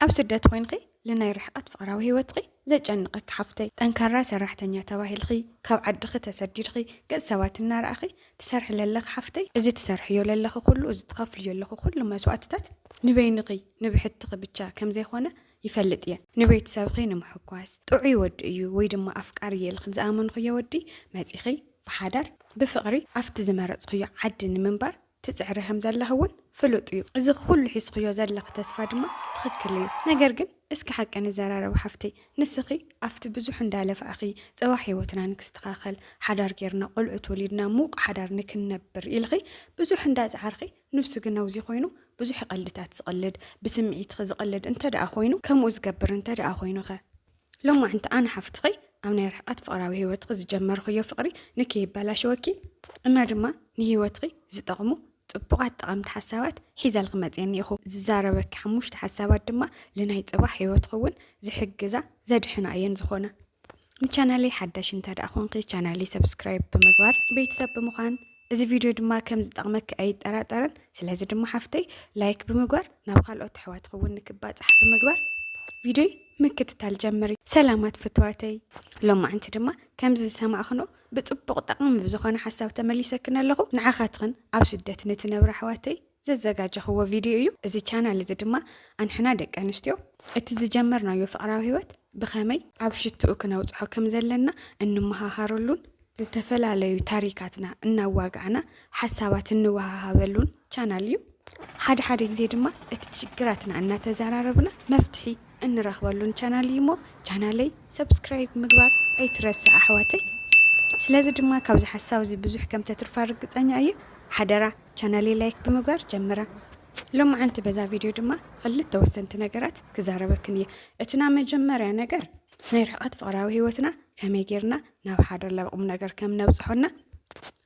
ኣብ ስደት ኮይንኺ ልናይ ርሕቀት ፍቅራዊ ሂወትኺ ዘጨንቀኪ ሓፍተይ ጠንካራ ሰራሕተኛ ተባሂልኺ ካብ ዓድኺ ተሰዲድኺ ገጽ ሰባት እናረኣኺ ትሰርሒ ለለኺ ሓፍተይ እዚ ትሰርሕዮ ለለኺ ኩሉ እዚ ትኸፍልዮ ኣለኺ ኩሉ መስዋእትታት ንበይንኺ ንብሕትኺ ብቻ ከምዘይኮነ ይፈልጥ እየ ንቤተሰብኺ ንምሕጓስ ጥዑይ ወዲ እዩ ወይ ድማ ኣፍቃሪ እየ ኢልኺ ዝኣመንኽዮ ወዲ መጺኺ ብሓዳር ብፍቅሪ ኣብቲ ዝመረጽኽዮ ዓዲ ንምንባር ትጽዕሪ ከም ዘለኺ ውን ፍሉጥ እዩ እዚ ኩሉ ሒዝኽዮ ዘለኺ ተስፋ ድማ ትኽክል እዩ ነገር ግን እስኪ ሓቂ ንዘራረብ ሓፍተይ ንስኺ ኣብቲ ብዙሕ እንዳ ለፋዕኺ ጸባሕ ሂወትና ንክስተኻኸል ሓዳር ጌርና ቆልዑት ወሊድና ሙቅ ሓዳር ንክንነብር ኢልኺ ብዙሕ እንዳ ጸዓርኺ ኑሱ ግን ኣውዚ ኮይኑ ብዙሕ ቀልድታት ዝቅልድ ብስምዒትኺ ዝቅልድ እንተ ደኣ ኮይኑ ከምኡ ዝገብር እንተ ደኣ ኮይኑኸ ሎማዕንቲ ኣነ ሓፍትኺ ኣብ ናይ ርሕቐት ፍቕራዊ ህይወትኺ ዝጀመርኽዮ ፍቕሪ ንክይበላሸወኪ እና ድማ ንህይወትኺ ዝጠቕሙ ጽቡቓት ጠቐምቲ ሓሳባት ሒዘልኺ መጽየ እኒኢኹ። ዝዛረበኪ ሓሙሽተ ሓሳባት ድማ ልናይ ጽባሕ ህይወትኺ እውን ዝሕግዛ ዘድሕና እየን ዝኾና። ንቻናለይ ሓዳሽ እንተደኣ ኾንኪ ቻናለይ ሰብስክራይብ ብምግባር ቤተሰብ ብምዃን እዚ ቪድዮ ድማ ከም ዝጠቕመኪ ኣይጠራጠርን። ስለዚ ድማ ሓፍተይ ላይክ ብምግባር ናብ ካልኦት ኣሕዋትኺ እውን ንክባፃሕ ብምግባር ቪድዮይ ምክትታል ጀምሪ። ሰላማት ፍትዋተይ፣ ሎማዕንቲ ድማ ከምዚ ዝሰማዕኽንኦ ብፅቡቕ ጠቓሚ ብዝኾነ ሓሳብ ተመሊሰክን ኣለኹ። ንዓኻትኽን ኣብ ስደት ንትነብራ ኣሕዋተይ ዘዘጋጀኽዎ ቪድዮ እዩ እዚ ቻናል እዚ ድማ ኣንሕና ደቂ ኣንስትዮ እቲ ዝጀመርናዮ ፍቕራዊ ህይወት ብኸመይ ኣብ ሽትኡ ክነብጽሖ ከም ዘለና እንመሃሃረሉን ዝተፈላለዩ ታሪካትና እናዋጋዕና ሓሳባት እንወሃሃበሉን ቻናል እዩ። ሓደ ሓደ ግዜ ድማ እቲ ችግራትና እናተዘራረብና መፍትሒ እንረኽበሉን ቻናል እዩ እሞ ቻናለይ ሰብስክራይብ ምግባር ኣይትረስዕ ኣሕዋተይ። ስለዚ ድማ ካብዚ ሓሳብ እዚ ብዙሕ ከም ተትርፋ ርግጸኛ እየ ሓደራ ቻናለይ ላይክ ብምግባር ጀምራ። ሎምዓንቲ በዛ ቪድዮ ድማ ኽልተ ወሰንቲ ነገራት ክዛረበክን እየ። እቲ ናብ መጀመርያ ነገር ናይ ርሕቐት ፍቕራዊ ህይወትና ከመይ ጌርና ናብ ሓደ ናብ ቁም ነገር ከም ነብጽሖና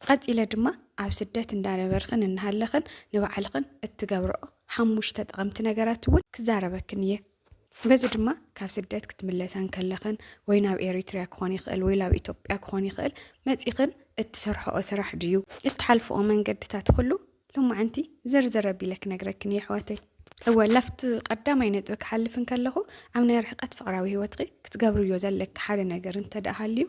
ቐጺለ ድማ ኣብ ስደት እንዳነበርኽን እናሃለኽን ንባዕልኽን እትገብርኦ ሓሙሽተ ጠቐምቲ ነገራት እውን ክዛረበክን እየ። በዚ ድማ ካብ ስደት ክትምለሳ እንከለኽን ወይ ናብ ኤሪትሪያ ክኾን ይኽእል ወይ ናብ ኢትዮጵያ ክኾን ይኽእል መጺኽን እትሰርሕኦ ስራሕ ድዩ እትሓልፍኦ መንገድታት ኹሉ ሎማዓንቲ ዝርዝር ኣቢለ ክነግረክን እየ ኣሕዋተይ። እወ ላፍቲ ቀዳማይ ነጥቢ ክሓልፍ እንከለኹ ኣብ ናይ ርሕቀት ፍቕራዊ ህይወትኺ ክትገብርዮ ዘለኪ ሓደ ነገር እንተደኣ ሃልዩ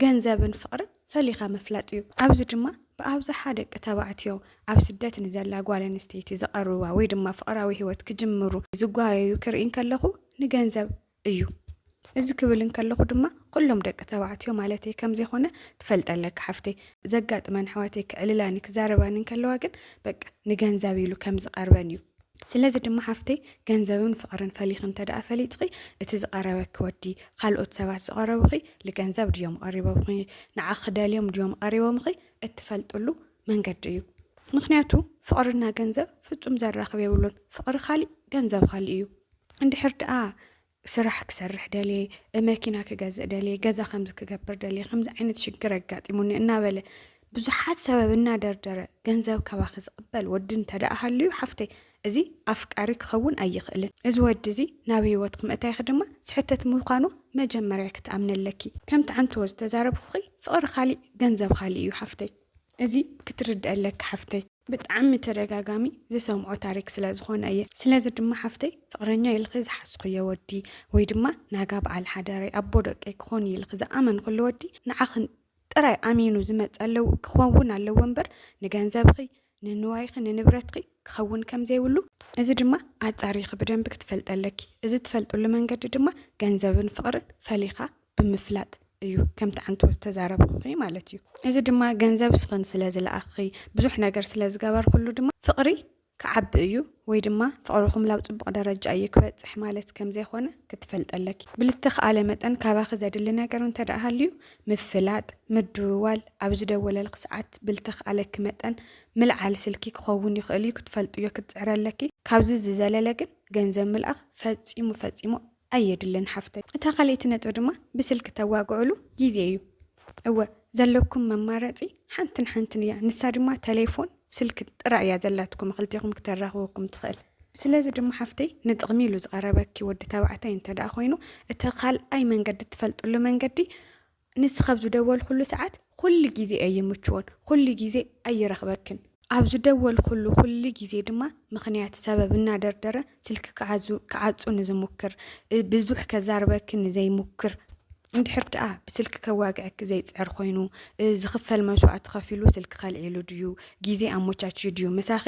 ገንዘብን ፍቕርን ፈሊኻ ምፍላጥ እዩ። ኣብዚ ድማ ብኣብዝሓ ደቂ ተባዕትዮ ኣብ ስደት ንዘላ ጓል ኣንስተይቲ ዝቐርብዋ ወይ ድማ ፍቕራዊ ህይወት ክጅምሩ ዝጓየዩ ክርኢ እንከለኹ ንገንዘብ እዩ። እዚ ክብል እንከለኹ ድማ ኩሎም ደቂ ተባዕትዮ ማለተይ ከምዘይኮነ ትፈልጢ ኣለኪ ሓፍተይ። ዘጋጥመን ኣሕዋተይ ክዕልላኒ ክዛረባኒ እንከለዋ ግን በቃ ንገንዘብ ኢሉ ከምዝቐርበን እዩ። ስለዚ ድማ ሓፍተይ ገንዘብን ፍቅርን ፈሊኺ እንተድኣ ፈሊጥኺ እቲ ዝቀረበኪ ወዲ ካልኦት ሰባት ዝቀረቡኺ ልገንዘብ ድዮም ቀሪቦምኺ ንዓኺ ክደልዮም ድዮም ቀሪቦምኺ እትፈልጥሉ መንገዲ እዩ ምክንያቱ ፍቅርና ገንዘብ ፍጹም ዘራኽብ የብሉን ፍቅሪ ካሊእ ገንዘብ ካሊእ እዩ እንድሕር ድኣ ስራሕ ክሰርሕ ደልየ፣ መኪና ክገዝእ ደልየ፣ ገዛ ከምዚ ክገብር ደልየ፣ ከምዚ ዓይነት ሽግር ኣጋጢሙኒ እናበለ ብዙሓት ሰበብ እናደርደረ ገንዘብ ካባኺ ዝቕበል ወዲ እንተደኣ ሃልዩ ሓፍተይ እዚ ኣፍቃሪ ክኸውን ኣይኽእልን። እዚ ወዲ እዚ ናብ ህይወትኪ ምእታይኪ ድማ ስሕተት ምዃኑ መጀመርያ ክትኣምኒ ኣለኪ። ከምቲ ዓንትዎ ዝተዛረብኩኺ ፍቕሪ ካሊእ ገንዘብ ካሊእ እዩ ሓፍተይ። እዚ ክትርድኢ ኣለኪ ሓፍተይ። ብጣዕሚ ተደጋጋሚ ዝሰምዖ ታሪክ ስለ ዝኮነ እየ ስለዚ ድማ ሓፍተይ ፍቅረኛይ ኢልኪ ዝሓስኩዮ ወዲ ወይ ድማ ናጋ በዓል ሓዳረይ ኣቦ ደቀይ ክኮን እዩ ኢልኪ ዝኣመንክሉ ወዲ ንዓክን ጥራይ ኣሚኑ ዝመጽ ኣለዎ ክከውን ኣለዎ እምበር ንገንዘብኪ ንንዋይኪ ንንብረትኪ ክከውን ከም ዘይብሉ እዚ ድማ ኣጻሪኪ ብደንቢ ክትፈልጢ ኣለኪ እዚ ትፈልጥሉ መንገዲ ድማ ገንዘብን ፍቅርን ፈሊካ ብምፍላጥ እዩ ከምቲ ዓንተወ ዝተዛረብኹኺ ማለት እዩ እዚ ድማ ገንዘብ ስኽን ስለ ዝለኣኽኺ ብዙሕ ነገር ስለ ዝገበርኩሉ ድማ ፍቕሪ ክዓቢ እዩ ወይ ድማ ፍቕርኹም ላብ ፅቡቕ ደረጃ እዩ ክበፅሕ ማለት ከም ዘይኮነ ክትፈልጥ ኣለኪ ብልተኽኣለ መጠን ካባኺ ዘድሊ ነገር እንተ ደኣ ሃልዩ ምፍላጥ ምድውዋል ኣብ ዝደወለልኪ ሰዓት ብልተኽኣለኪ መጠን ምልዓል ስልኪ ክኸውን ይኽእል እዩ ክትፈልጥዮ ክትፅዕሪ ኣለኪ ካብዚ ዝዘለለ ግን ገንዘብ ምልኣኽ ፈፂሙ ፈፂሙ ኣየድልን ሓፍተይ እታ ካልኣይቲ ነጥቢ ድማ ብስልኪ ተዋግዕሉ ግዜ እዩ እወ ዘለኩም መማረጺ ሓንትን ሓንትን እያ ንሳ ድማ ተሌፎን ስልኪ ጥራይ እያ ዘላትኩም ክልቴኹም ክተራኽበኩም ትኽእል ስለዚ ድማ ሓፍተይ ንጥቕሚ ኢሉ ዝቐረበኪ ወዲ ተባዕታይ እንተደኣ ኮይኑ እቲ ካልኣይ መንገዲ እትፈልጥሉ መንገዲ ንስኺ ኣብ ዝደወልኩሉ ሰዓት ኩሉ ግዜ ኣይምችዎን፣ ኩሉ ግዜ ኣይረኽበክን። ኣብ ዝደወልኩሉ ኩሉ ግዜ ድማ ምኽንያት፣ ሰበብ እናደርደረ ስልኪ ክዓዙ ክዓጹ ንዝሙክር፣ ብዙሕ ከዛርበኪ ንዘይሙክር፣ እንድሕር ደኣ ብስልኪ ከዋግዐኪ ዘይጽዕር ኮይኑ፣ ዝኽፈል መስዋእቲ ከፊሉ ስልኪ ከልዒሉ ድዩ፣ ግዜ ኣሞቻችዩ ድዩ ምሳኺ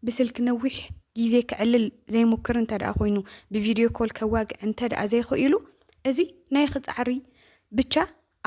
ብስልኪ ነዊሕ ግዜ ከዕልል ዘይሙክር እንተድኣ ኮይኑ፣ ብቪድዮ ኮል ከዋግዕ እንተድኣ ዘይኸኢሉ፣ እዚ ናይ ክጻዕሪ ብቻ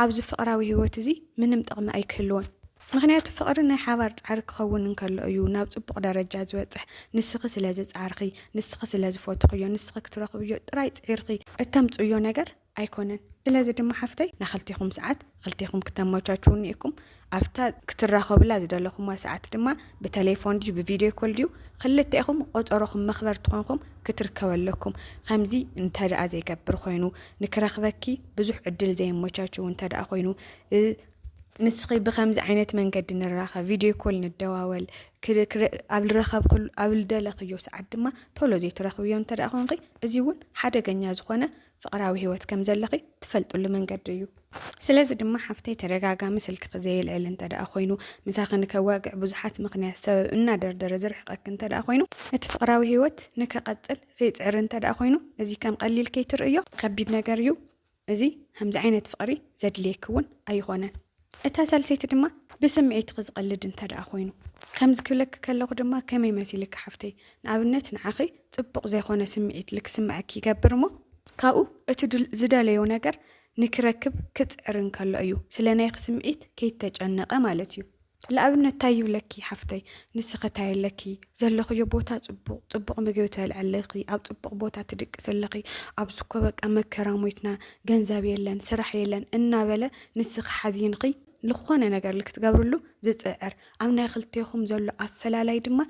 ኣብዚ ፍቕራዊ ህይወት እዚ ምንም ጥቕሚ ኣይክህልዎን። ምክንያቱ ፍቕሪ ናይ ሓባር ጻዕሪ ክኸውን እንከሎ እዩ ናብ ጽቡቕ ደረጃ ዝበጽሕ። ንስኺ ስለ ዝጻዕርኺ፣ ንስኺ ስለ ዝፈትኽዮ፣ ንስኺ ክትረኽብዮ ጥራይ ጽዒርኺ እተምጽእዮ ነገር ኣይኮነን ስለዚ ድማ ሓፍተይ ናክልቴኹም ሰዓት ክልቴኹም ክተመቻችዉ እኒኤኩም ኣብታ ክትራኸቡላ ዝደለኹማ ሰዓት ድማ ብተሌፎን ድዩ ብቪድዮ ኮል ድዩ ክልቴኹም ቆፀሮኹም መኽበርቲ ኮንኩም ክትርከቡ ኣለኩም ከምዚ እንተደኣ ዘይገብር ኮይኑ ንክረኽበኪ ብዙሕ ዕድል ዘየመቻችዉ እንተደኣ ኮይኑ ንስኺ ብከምዚ ዓይነት መንገዲ ንራኸብ ቪድዮ ኮል ንደዋወል ኣብ ዝረኸብክሉ ኣብ ዝደለኽዮ ሰዓት ድማ ቶሎ ዘይትረኽብዮ እንተ ኮንኺ እዚ እውን ሓደገኛ ዝኾነ ፍቕራዊ ህይወት ከም ዘለኺ ትፈልጥሉ መንገዲ እዩ። ስለዚ ድማ ሓፍተይ ተደጋጋሚ ስልክኺ ዘየልዕል እንተደኣ ኮይኑ፣ ምሳኺ ንከዋግዕ ብዙሓት ምኽንያት ሰበብ እናደርደረ ዝርሕቐኪ እንተደኣ ኮይኑ፣ እቲ ፍቕራዊ ህይወት ንከቐጽል ዘይጽዕሪ እንተደኣ ኮይኑ፣ እዚ ከም ቀሊል ከይትርእይዮ። ከቢድ ነገር እዩ እዚ፣ ከምዚ ዓይነት ፍቕሪ ዘድልየኪ እውን ኣይኾነን። እታ ሳልሰይቲ ድማ ብስምዒትኺ ዝቐልድ እንተድኣ ኮይኑ ከምዚ ክብለኪ ከለኹ ድማ ከመይ መሲልኪ ሓፍተይ ንኣብነት ንዓኺ ጽቡቕ ዘይኮነ ስምዒት ልክስመዐኪ ይገብር እሞ ካብኡ እቲ ዝደለዮ ነገር ንኪረክብ ክጽዕር እንከሎ እዩ ስለ ናይኺ ስምዒት ከይተጨነቐ ማለት እዩ። ልኣብነት ታይ ይብለኪ ሓፍተይ ንስኺ ታይ ኣለኪ ዘለኽዮ ቦታ ጽቡቕ ጽቡቕ ምግቢ ትበልዒ ኣለኺ ኣብ ጽቡቕ ቦታ ትድቅሲ ኣለኺ ኣብዚ እኮ በቃ መከራ ሞይትና ገንዘብ የለን ስራሕ የለን እናበለ ንስኺ ሓዚንኺ ልኾነ ነገር ልክትገብርሉ ዝጽዕር ኣብ ናይ ክልቴኹም ዘሎ ኣፈላላይ ድማ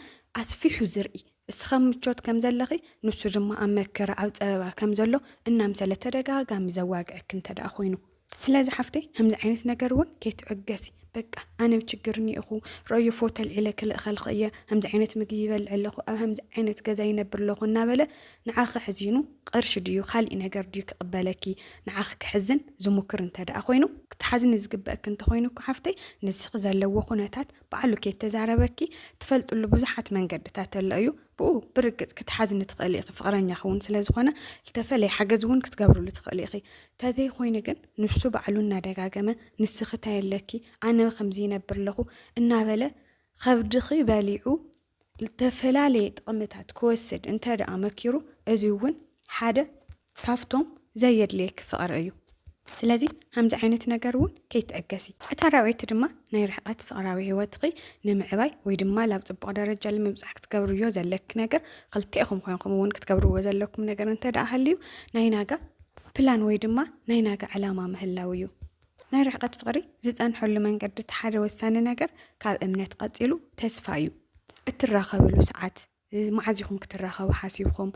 ኣስፊሑ ዝርኢ እስኺ ኣብ ምቾት ከም ዘለኺ ንሱ ድማ ኣብ መከራ ኣብ ጸበባ ከም ዘሎ እናምሰለ ተደጋጋሚ ዘዋግዐኪ እንተ ደኣ ኮይኑ ስለዚ ሓፍተይ ከምዚ ዓይነት ነገር እውን ከይትዕገሲ በቃ ኣነ ብ ችግር እኒኤኹ ረዮ ፎቶ ኣልዒለ ክልእኸልኺ እየ ከምዚ ዓይነት ምግቢ ይበልዕ ኣለኹ ኣብ ከምዚ ዓይነት ገዛ ይነብር ኣለኹ እናበለ ንዓኺ ሕዚኑ ቕርሺ ድዩ ኻሊእ ነገር ድዩ ክቕበለኪ ንዓኺ ክሕዝን ዝሙክር እንተድኣ ኾይኑ ክትሓዝኒ ዝግበእኪ እንተኾይኑ እኮ ሓፍተይ ንስኺ ዘለዎ ኹነታት ባዕሉ ከይተዛረበኪ ትፈልጥሉ ብዙሓት መንገድታት ኣሎ እዩ ብኡ ብርግፅ ክትሓዝኒ ትኽእሊ ኢኺ ፍቕረኛኺ እውን ስለዝኾነ ዝተፈለየ ሓገዝ እውን ክትገብርሉ ትኽእሊ ኢኺ ተዘይኾይኑ ግን ንሱ ባዕሉ እናደጋገመ ንስኺ ታይ ኣለኪ ኣነ ኸምዚ ይነብር ኣለኹ እናበለ ኸብድኺ በሊዑ ዝተፈላለየ ጥቕምታት ክወስድ እንተ ደኣ መኪሩ እዚ እውን ሓደ ካብቶም ዘየድልየኪ ፍቕሪ እዩ። ስለዚ ከምዚ ዓይነት ነገር እውን ከይትዕገሲ። እታ ራብዐይቲ ድማ ናይ ርሕቀት ፍቅራዊ ህይወትኺ ንምዕባይ ወይ ድማ ላብ ጽቡቅ ደረጃ ልምብጻሕ ክትገብርዮ ዘለኪ ነገር ክልቴኹም ኮይንኩም እውን ክትገብርዎ ዘለኩም ነገር እንተ ደኣ ሃልዩ ናይ ናጋ ፕላን ወይ ድማ ናይ ናጋ ዕላማ ምህላው እዩ። ናይ ርሕቀት ፍቕሪ ዝጸንሐሉ መንገዲ እቲ ሓደ ወሳኒ ነገር ካብ እምነት ቐጺሉ ተስፋ እዩ። እትራኸብሉ ሰዓት መዓዝ ኢኹም ክትራኸቡ ሓሲብኩም?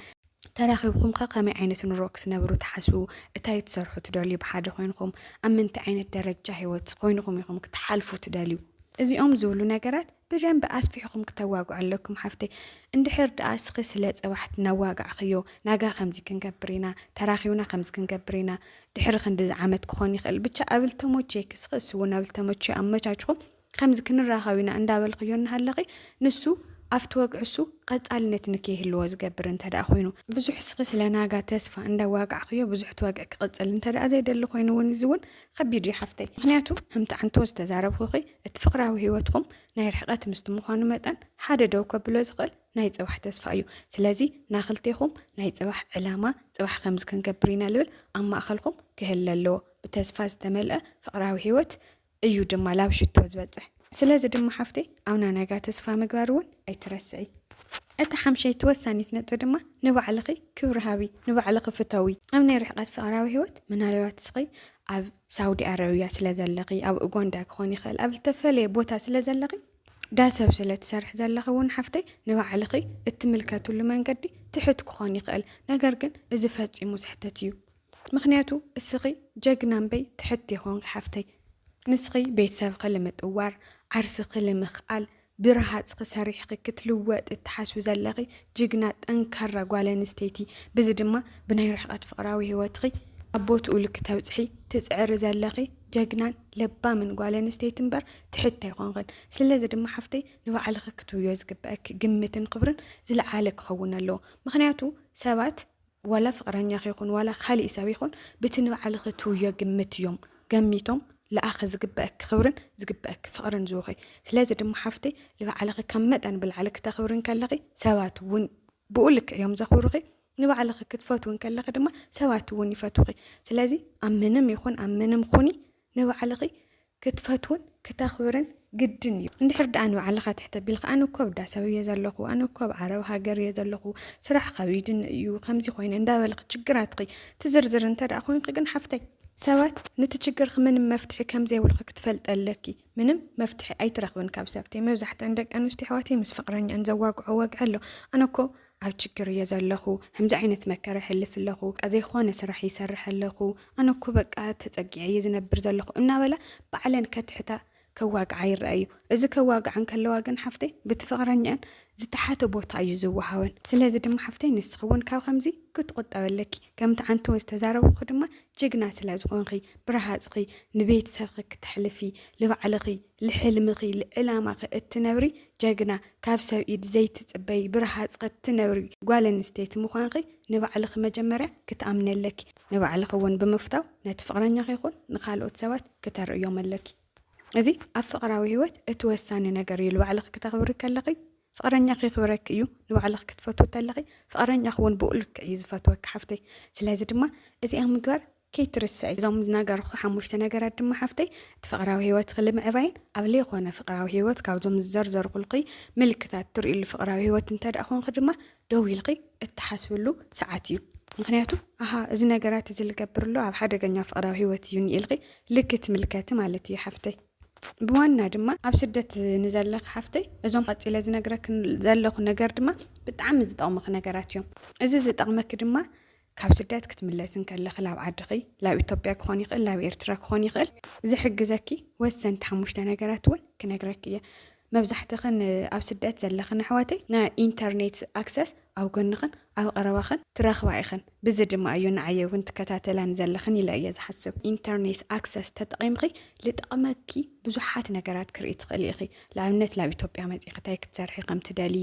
ተራኺብኩም ከ ከመይ ዓይነት ኑሮ ክትነብሩ ትሓስቡ? እታይ ትሰርሑ ትደልዩ ብሓደ ኮይንኹም? ኣብ ምንታይ ዓይነት ደረጃ ሂወት ኮይንኹም ኢኹም ክትሓልፉ ትደልዩ? እዚኦም ዝብሉ ነገራት ብደንቢ ኣስፊሕኹም ክተዋግዑ ኣለኩም ሓፍተይ እንድሕር ድኣ እስኺ ስለ ጽባሕ እናዋጋዕኽዮ ናጋ ከምዚ ክንገብር ኢና ተራኺብና ከምዚ ክንገብር ኢና ድሕሪ ክንድዚ ዓመት ክኾን ይኽእል ብቻ ኣብ ልተሞቼክ እስኺ እሱ እውን ኣብ ልተሞቼ ኣመቻችኹም ከምዚ ክንራኸብ ኢና እንዳበልኽዮ እናሃለኺ ንሱ ኣብቲ ወግዕሱ ቐጻልነት ንከይህልዎ ዝገብር እንተ ደኣ ኮይኑ ብዙሕ እስኺ ስለ ናጋ ተስፋ እንዳዋጋዕኽዮ ብዙሕ እቲ ወግዒ ክቕጽል እንተ ደኣ ዘይደሊ ኮይኑ እውን እዚ እውን ከቢድ እዩ ሓፍተይ ምክንያቱ ህምቲ ዓንቶ ዝተዛረብኹኺ እቲ ፍቕራዊ ህይወትኹም ናይ ርሕቐት ምስቲ ምዃኑ መጠን ሓደ ደው ከብሎ ዝኽእል ናይ ጽባሕ ተስፋ እዩ። ስለዚ ናክልቴኹም ናይ ጽባሕ ዕላማ፣ ጽባሕ ከምዚ ክንገብር ኢና ልብል ኣብ ማእከልኩም ክህለ ኣለዎ። ብተስፋ ዝተመልአ ፍቕራዊ ህይወት እዩ ድማ ላብ ሽቶ ዝበጽሕ። ስለዚ ድማ ሓፍተይ ኣብ ናናጋ ተስፋ ምግባር እውን ኣይትረስዒ። እታ ሓምሸይቲ ወሳኒት ነጥቢ ድማ ንባዕልኺ ክብሪ ሃቢ፣ ንባዕልኺ ፍተዊ። ኣብ ናይ ርሕቐት ፍቕራዊ ህይወት ምናልባት እስኺ ኣብ ሳውዲ ኣረብያ ስለ ዘለኺ ኣብ ኡጋንዳ ክኾን ይኽእል ኣብ ዝተፈለየ ቦታ ስለ ዘለኺ ዳሰብ ስለ ትሰርሒ ዘለኺ እውን ሓፍተይ ንባዕልኺ እትምልከትሉ መንገዲ ትሕት ክኾን ይኽእል ነገር ግን እዚ ፈፂሙ ስሕተት እዩ ምክንያቱ እስኺ ጀግና እምበይ ትሕት ይኾን ሓፍተይ ንስኺ ቤተሰብኺ ልምጥዋር ዓርስኺ ልምኽኣል ብረሃፅኪ ሰሪሕኺ ክትልወጢ እትሓስቢ ዘለኺ ጅግና ጠንካራ ጓል ኣንስተይቲ ብዚ ድማ ብናይ ርሕቐት ፍቕራዊ ሂወትኺ ኣብ ቦትኡ ልክ ተብፅሒ ትፅዕሪ ዘለኺ ጀግናን ለባምን ጓል ኣንስተይቲ እምበር ትሕት ኣይኾንኽን ስለዚ ድማ ሓፍተይ ንባዕልኺ ክትብዮ ዝግበኣኪ ግምትን ኽብርን ዝለዓለ ክኸውን ኣለዎ ምኽንያቱ ሰባት ዋላ ፍቅረኛኺ ይኹን ዋላ ኻሊእ ሰብ ይኹን ብቲ ንባዕልኺ ትህብዮ ግምት እዮም ገሚቶም ልኣኺ ዝግበእኪ ኽብርን ዝግበእኪ ፍቅርን ዝህቡኺ ስለዚ ድማ ሓፍተይ ልባዕልኺ ካብ መጠን ብላዕሊ ክተኽብሪ እንከለኺ ሰባት እውን ብኡ ልክዕ እዮም ዘኽብሩኺ ንባዕልኺ ክትፈትዊ እንከለኺ ድማ ሰባት እውን ይፈትዉኺ ስለዚ ኣብ ምንም ይኹን ኣብ ምንም ኹኒ ንባዕልኺ ክትፈትውን ክተኽብርን ግድን እዩ። እንድሕር ደኣ ንባዕልኻ ትሕት ኣቢልካ ኣነ እኮ ኣብ ዳሳብ እየ ዘለኹ፣ ኣነ እኮ ኣብ ዓረብ ሃገር እየ ዘለኹ፣ ስራሕ ከቢድኒ እዩ፣ ከምዚ ኮይነ እንዳበልኺ ችግራትኺ ትዝርዝሪ እንተ ደኣ ኮይንኪ ግን ሓፍተይ፣ ሰባት ንቲ ችግርኺ ምንም መፍትሒ ከም ዘይብልኺ ክትፈልጢ ኣለኪ። ምንም መፍትሒ ኣይትረኽብን ካብ ሰብቲ። መብዛሕትኣን ደቂ ኣንስትዮ ኣሕዋተይ ምስ ፍቕረኝኣን ዘዋግዖ ወግዒ ኣሎ። ኣነ እኮ ኣብ ችግር እየ ዘለኹ ከምዚ ዓይነት መከራ ይሕልፍ ኣለኹ በቃ ዘይኾነ ስራሕ ይሰርሕ ኣለኹ ኣነ እኮ በቃ ተፀጊዐ እየ ዝነብር ዘለኹ እናበላ ባዕለን ከትሕታ ከዋግዓ ይረአ እዩ እዚ ከዋግዓን ከለዋ ግን ሓፍተይ ብቲ ፍቕረኛን ዝተሓተ ቦታ እዩ ዝወሃወን ስለዚ ድማ ሓፍተይ ንስኺ እውን ካብ ከምዚ ክትቑጠበ ኣለኪ ከምቲ ዓንቲ እውን ዝተዛረብኹ ድማ ጅግና ስለ ዝኾንኺ ብረሃፅኺ ንቤተሰብኺ ክተሕልፊ ንባዕልኺ ልሕልምኺ ልዕላማኺ እትነብሪ ጀግና ካብ ሰብ ኢድ ዘይትጽበዪ ብረሃጽኺ እትነብሪ ጓል ኣንስተይቲ ምዃንኺ ንባዕልኺ መጀመርያ ክትኣምኒ ኣለኪ ንባዕልኺ እውን ብምፍታው ነቲ ፍቕረኛኺ ይኹን ንኻልኦት ሰባት ክተርእዮም ኣለኪ እዚ ኣብ ፍቕራዊ ህይወት እቲ ወሳኒ ነገር እዩ ልባዕልኺ ክተኽብሪ ከለኺ ፍቕረኛኺ የኽብረኪ እዩ ንባዕልኺ ክትፈትዊ ተለኺ ፍቕረኛኺ እውን ብኡ ልክዕ እዩ ዝፈትወኪ ሓፍተይ ስለዚ ድማ እዚኣ ምግባር ከይትርስዒ እዞም ዝነገርኹ ሓሙሽተ ነገራት ድማ ሓፍተይ እቲ ፍቕራዊ ህይወትኺ ልምዕባይን ኣብ ለይኾነ ፍቕራዊ ህይወት ካብዞም ዝዘርዘርኹልኺ ምልክታት ትርእይሉ ፍቕራዊ ህይወት እንተድኣ ኮንኺ ድማ ደው ኢልኺ እትሓስብሉ ሰዓት እዩ። ምኽንያቱ ኣሃ እዚ ነገራት እዚ ልገብርሎ ኣብ ሓደገኛ ፍቕራዊ ህይወት እዩኒ ኢልኺ ልክትምልከቲ ማለት እዩ ሓፍተይ። ብዋና ድማ ኣብ ስደት ንዘለኺ ሓፍተይ እዞም ቀጺለ ዝነግረኪ ዘለኹ ነገር ድማ ብጣዕሚ ዝጠቕሙኺ ነገራት እዮም። እዚ ዝጠቕመኪ ድማ ካብ ስደት ክትምለሲ እንከለኺ ላብ ዓድኺ ላብ ኢትዮጵያ ክኾን ይኽእል ላብ ኤርትራ ክኾን ይኽእል ዝሕግዘኪ ወሰንቲ ሓሙሽተ ነገራት እውን ክነግረኪ እየ መብዛሕትኽን ኣብ ስደት ዘለኽን ኣሕዋተይ ናይ ኢንተርኔት ኣክሰስ ኣብ ጎንኽን ኣብ ቐረባኽን ትረኽባ ኢኽን ብዚ ድማ እዩ ንዓየ እውን ትከታተላን ዘለኽን ኢለ እየ ዝሓስብ ኢንተርኔት ኣክሰስ ተጠቒምኺ ልጠቕመኪ ብዙሓት ነገራት ክርኢ ትኽእሊ ኢኺ ንኣብነት ላብ ኢትዮጵያ መፂእኺ እንታይ ክትሰርሒ ከምትደሊ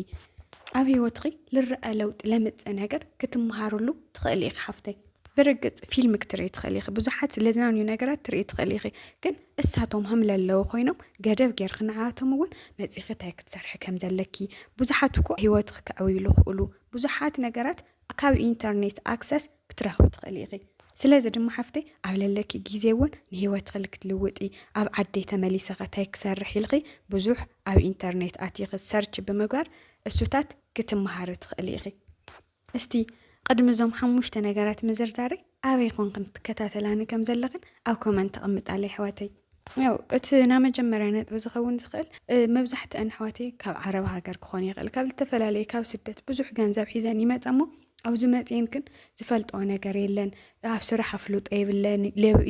ኣብ ህይወትኺ ልረኣ ለውጢ ለመፀ ነገር ክትመሃርሉ ትኽእሊ ኢኺ ሓፍተይ። ብርግፅ ፊልም ክትርኢ ትኽእሊ ኢኺ፣ ብዙሓት ለዝናንዩ ነገራት ትርኢ ትኽእሊ ኢኺ፣ ግን እሳቶም ሃም ለለዉ ኮይኖም ገደብ ጌርኺ ንዓኣቶም እውን መፂኺ እንታይ ክትሰርሒ ከም ዘለኪ ብዙሓት እኮ ህይወትኺ ከዕውይሉ ይኽእሉ ብዙሓት ነገራት ካብ ኢንተርኔት ኣክሰስ ክትረኽቢ ትኽእሊ ኢኺ። ስለዚ ድማ ሓፍተይ ኣብ ለለኪ ግዜ እውን ንህይወትኺ ልክትልውጢ ኣብ ዓደይ ተመሊሰ ከ ታይ ክሰርሕ ኢልኺ ብዙሕ ኣብ ኢንተርኔት ኣቲኺ ሰርች ብምግባር እሱታት ክትመሃሪ ትኽእሊ ኢኺ። እስቲ ቕድሚ እዞም ሓሙሽተ ነገራት ምዝርዛረይ ኣበይ ኮንክን ትከታተላኒ ከም ዘለኽን ኣብ ኮመንት ኣቕምጣለይ ኣሕዋተይ። ያው እቲ ናይ መጀመርያ ነጥቢ ዝኸውን ዝኽእል መብዛሕትአን ኣሕዋተይ ካብ ዓረብ ሃገር ክኾን ይኽእል ካብ ዝተፈላለየ ካብ ስደት ብዙሕ ገንዘብ ሒዘን ይመፃ እሞ ኣብዚ መጺኤን ግን ዝፈልጠኦ ነገር የለን ኣብ ስራሕ ኣፍልጦ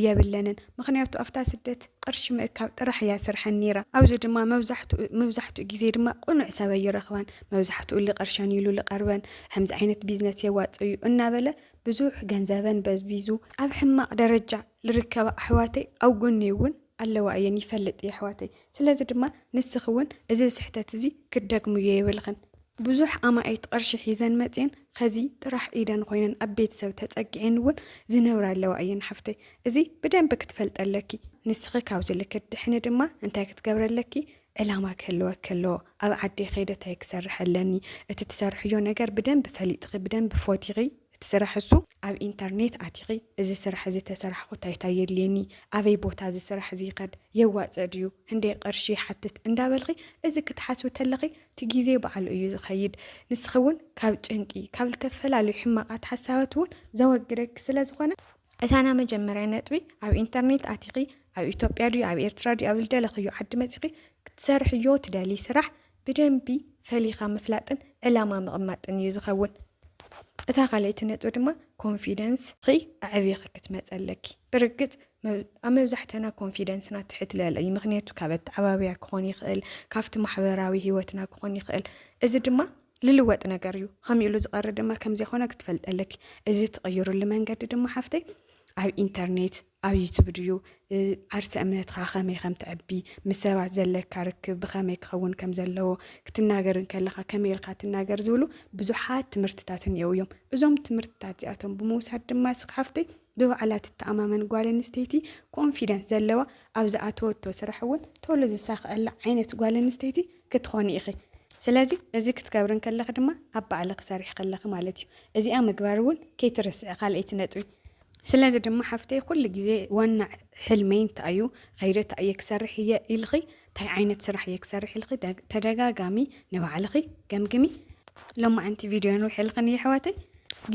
የብለንን ምክንያቱ ኣብታ ስደት ቅርሺ ምእካብ ጥራሕ እያ ስርሐን ነይራ ኣብዚ ድማ መብዛሕትኡ ግዜ ድማ ቁኑዕ ሰብ ኣይረክባን መብዛሕትኡ ልቅርሸን ኢሉ ልቀርበን ከምዚ ዓይነት ቢዝነስ የዋጽእ እዩ እናበለ ብዙሕ ገንዘበን በዝቢዙ ኣብ ሕማቅ ደረጃ ልርከባ ኣሕዋተይ ኣብ ጎነይ እውን ኣለዋ እየን ይፈልጥ እየ ኣሕዋተይ ስለዚ ድማ ንስኺ እውን እዚ ስሕተት እዚ ክትደግምዮ የብልኽን። ብዙሕ ኣማኢት ቕርሺ ሒዘን መፅየን ኸዚ ጥራሕ ኢደን ኾይነን ኣብ ቤተሰብ ተፀጊዐን እውን ዝነብራ ኣለዋ እየን ሓፍተይ እዚ ብደንቢ ክትፈልጢ ኣለኪ ንስኺ ካብዚ ልክት ትድሕኒ ድማ እንታይ ክትገብሪ ኣለኪ ዕላማ ክህልወኪ ኣለዎ ኣብ ዓደይ ከይደ ታይ ክሰርሕ ኣለኒ እቲ ትሰርሕዮ ነገር ብደንቢ ፈሊጥኺ ብደንቢ ፎቲኺ እቲ ስራሕ እሱ ኣብ ኢንተርኔት ኣቲኺ እዚ ስራሕ እዚ ተሰራሕኹ ታይ ታይ የድልየኒ ኣበይ ቦታ እዚ ስራሕ እዚ ይኸድ የዋፅእ ድዩ ህንደይ ቕርሺ ይሓትት እንዳበልኺ እዚ ክትሓስቢ ተለኺ እቲ ግዜ ባዕሉ እዩ ዝኸይድ ንስኺ እውን ካብ ጭንቂ ካብ ልተፈላለዩ ሕማቓት ሓሳባት እውን ዘወግደኪ ስለ ዝኾነ እታ ናይ መጀመርያ ነጥቢ ኣብ ኢንተርኔት ኣቲኺ ኣብ ኢትዮጵያ ድዩ ኣብ ኤርትራ ድዩ ኣብ ዝደለኽዮ ዓዲ መጺኺ ክትሰርሕዮ ትደልይ ስራሕ ብደንቢ ፈሊኻ ምፍላጥን ዕላማ ምቕማጥን እዩ ዝኸውን። እታ ካልኣይቲ ነጥቢ ድማ ኮንፊደንስ ኺ ኣዕቢኺ ክትመፀ ኣለኪ። ብርግፅ ኣብ መብዛሕተና ኮንፊደንስና ትሕት ልዕል እዩ። ምክንያቱ ካብ ኣተዓባብያ ክኾን ይኽእል፣ ካብቲ ማሕበራዊ ህይወትና ክኾን ይኽእል። እዚ ድማ ልልወጥ ነገር እዩ ኸምኡ ኢሉ ዝቐሪ ድማ ከም ዘይኮነ ክትፈልጥ ኣለኪ እዚ ትቕይሩሉ መንገዲ ድማ ሓፍተይ ኣብ ኢንተርኔት ኣብ ዩቱብ ድዩ ዓርሰ እምነትካ ከመይ ከም ትዕቢ ምስ ሰባት ዘለካ ርክብ ብኸመይ ክኸውን ከም ዘለዎ ክትናገር እንከለካ ከመይ ኢልካ ትናገር ዝብሉ ብዙሓት ትምህርትታት እኒአው እዮም እዞም ትምህርትታት እዚኣቶም ብምውሳድ ድማ ስክሓፍተይ ብባዕላ ትተኣማመን ጓል ኣንስተይቲ ኮንፊደንስ ዘለዋ ኣብ ዝኣተወቶ ስራሕ እውን ቶሎ ዝሳክዐላ ዓይነት ጓል ኣንስተይቲ ክትኾኒ ኢኺ። ስለዚ እዚ ክትገብሪ እንከለኺ ድማ ኣብ ባዕልኺ ሰሪሕኺ ኣለኺ ማለት እዩ። እዚኣ ምግባር እውን ከይትርስዒ ካልኣይቲ ነጥቢ። ስለዚ ድማ ሓፍተይ ኩሉ ግዜ ዋና ሕልመይ እንታይ እዩ፣ ኸይደ እንታይ እየ ክሰርሕ እየ ኢልኺ፣ እንታይ ዓይነት ስራሕ እየ ክሰርሕ ኢልኺ ተደጋጋሚ ንባዕልኺ ገምግሚ። ሎማዕንቲ ቪድዮ ንውሕ ኢልክን እዩ ኣሕዋተይ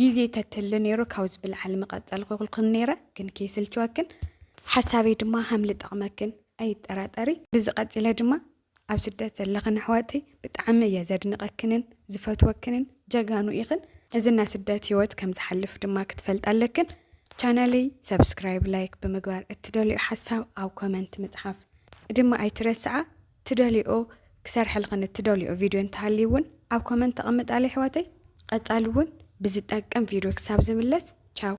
ግዜ ተትህሊ ነይሩ ካብ ዝብልዓሊ ምቐፀልኩልክን ነይረ ግን ከይስልችወክን ሓሳበይ ድማ ሃምሊ ጠቕመክን ኣይጠራጠሪ ብዚ ቀፂለ ድማ ኣብ ስደት ዘለኽን ኣሕዋተይ ብጣዕሚ እየ ዘድንቀክንን ዝፈትወክንን ጀጋኑ ኢኽን እዚ ናይ ስደት ህይወት ከም ዝሓልፍ ድማ ክትፈልጣ ኣለክን ቻናለይ ሰብስክራይብ ላይክ ብምግባር እትደልዮ ሓሳብ ኣብ ኮመንት ምፅሓፍ ድማ ኣይትረስዓ ትደልኦ ክሰርሐልኽን እትደልኦ ቪድዮ እንተሃልዩ እውን ኣብ ኮመንት ተቐምጣለይ ኣሕዋተይ ቀፃሊ እውን ብዝጠቅም ቪድዮ ክሳብ ዝምለስ ቻው